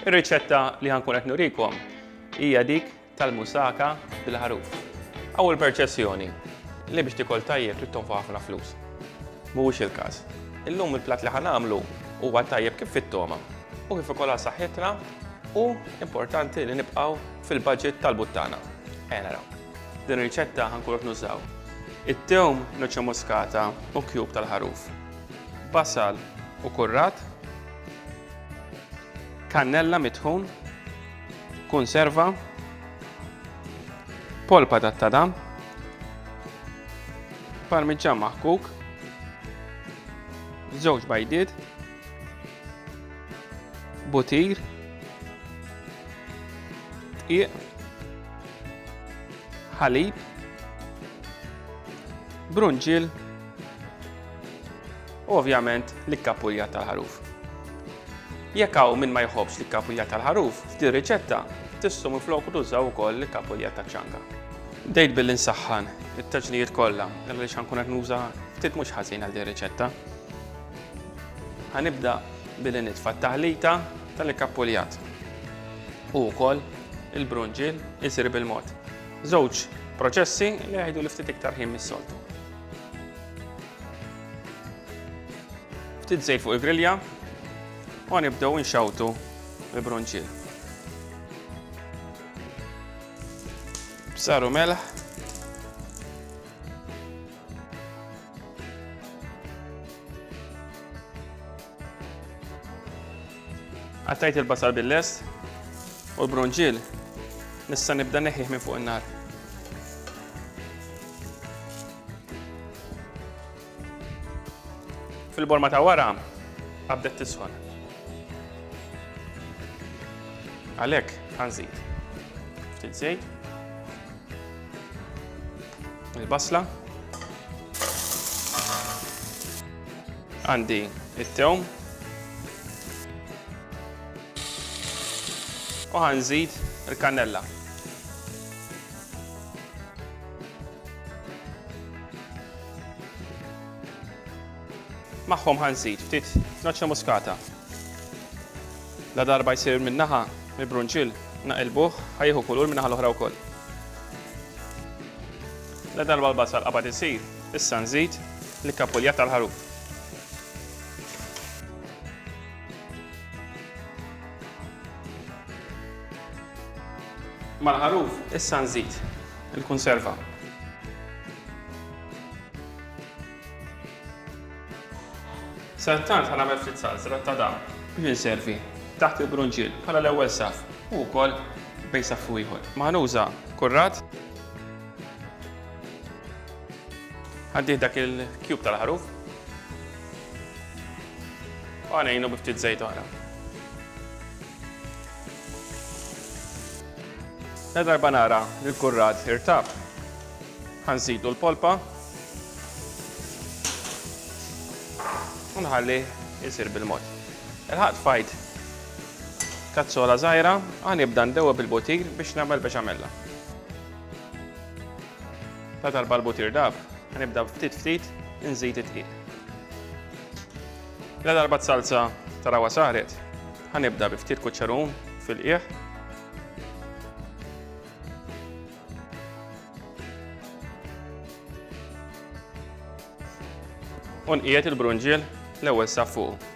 Ir-riċetta li ħankun qed nurikom hija dik tal-musaka bil-ħaruf. Aw il-perċessjoni li biex tikol tajjeb trid tonfoq ħafna flus. Mhuwiex il-każ. Illum il-platt li ħanamlu huwa tajjeb kif fit-toma u kif ukoll saħħitna u importanti li nibqgħu fil-budget tal-buttana. Ejja naraw. Din ir-riċetta ħankun qed nużaw. It-tewm noċċa muskata u kjub tal-ħaruf. Basal u kurrat Kannella mitħun, kunserva, polpa tat-tadam, parmiġġan maħkuk, żewġ bajdiet, butir, dqiq, ħalib, brunġil, u ovvjament l-ikkapuljat tal-ħaruf. Jekk hawn min ma jħobbx l-ikkapuljat tal-ħaruf, f'din riċetta tistgħu minfloku tużaw ukoll l-ikkapuljat taċ-ċanga. Bdejt billi nsaħħan it-taġnijiet kollha għaliex ħankun qed nuża ftit mhux ħażin għal din riċetta. Ħanibda billi nitfa' t-taħlita tal-ikkapuljat u wkoll il-brunġiel isir bil-mod. Żewġ proċessi li jieħdu li ftit iktar ħin mis-soltu. Ftit żejt fuq il-grilja u nibdew inxawtu l-bronċiel. Bsaru melħ. Għattajt il-basal bil-lest u l-bronġil nista' nibda neħħih minn fuq in-nar. Fil-borma ta' wara a bdet tisħon. Għalhekk ħanżid ftit żejt. Il-basla. Għandi it-tewm. U ħanżid il-kannella. Magħhom ħanżid ftit noċċa muskata. La darba jsir minn naħa mill-brunċil naqilbuh ħajħu kulur minn naħa l-oħra wkoll. La darba l-basal qabad isir, issa nżid li kapulja tal-ħaruf. Mal-ħaruf issa nżid il-kunserva. Sadattant ħa nagħmel ftit salsra ta' dam biex inservi taħt il-brunġiel bħala l-ewwel saff u wkoll bejn saff u ieħor. Ma ħanuża kurrat. Ħaddih dak il-kjub tal-ħaruf. U għanejnu bi ftit żejt oħra. La darba nara li l-kurrat irtab, ħansidu l-polpa u nħalli jisir bil-mod. Il-ħat fajt kazzola zaħira, għan ibda ndewa bil-butir biex namel biex għamella. La darba l-butir dab, għan ibda ftit ftit nżid it-tqil. La darba t-salza tarawa saret, Ħa nibda bi ftit kuċċerun fil-qiegħ. U nqiegħed il-brunġiel l-ewwel sa fuq.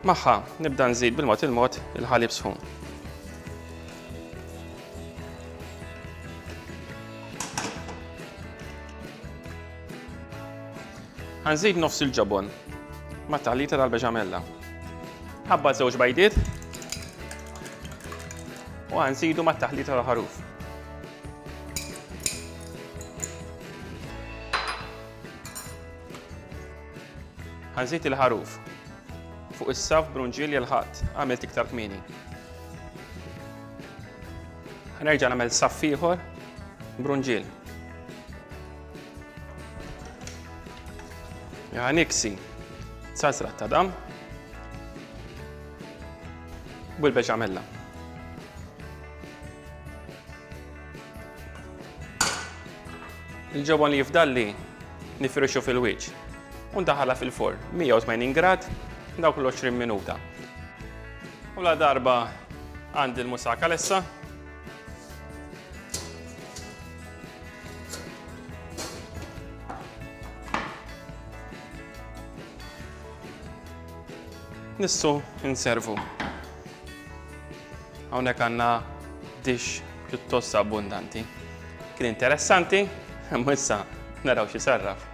Magħha nibda nżid bil-mod il-mod il-ħalib sħun. Ħanżid nofs il-ġobon ma' taħlita tal-beċamella. Ħabba żewġ bajdiet u ħanżidu ma' taħlita tal-ħaruf. Ħanżid il-ħaruf fuq is-saf brunġiel jel-ħadd għamilt iktar kmini. Nerġa' nagħmel saff ieħor brunġiel. Ja niksi sasrat ta' dam bil-beċamella. Il-ġobon li jifdalli nifirixu fil-wiċ. Undaħala fil-forn 180 grad dawk l-20 minuta. U la darba għandi l-musaka lessa. Nissu inservu. Hawnhekk għandna dix pjuttost abbundanti. Kien interessanti, imma issa naraw xi sarraf.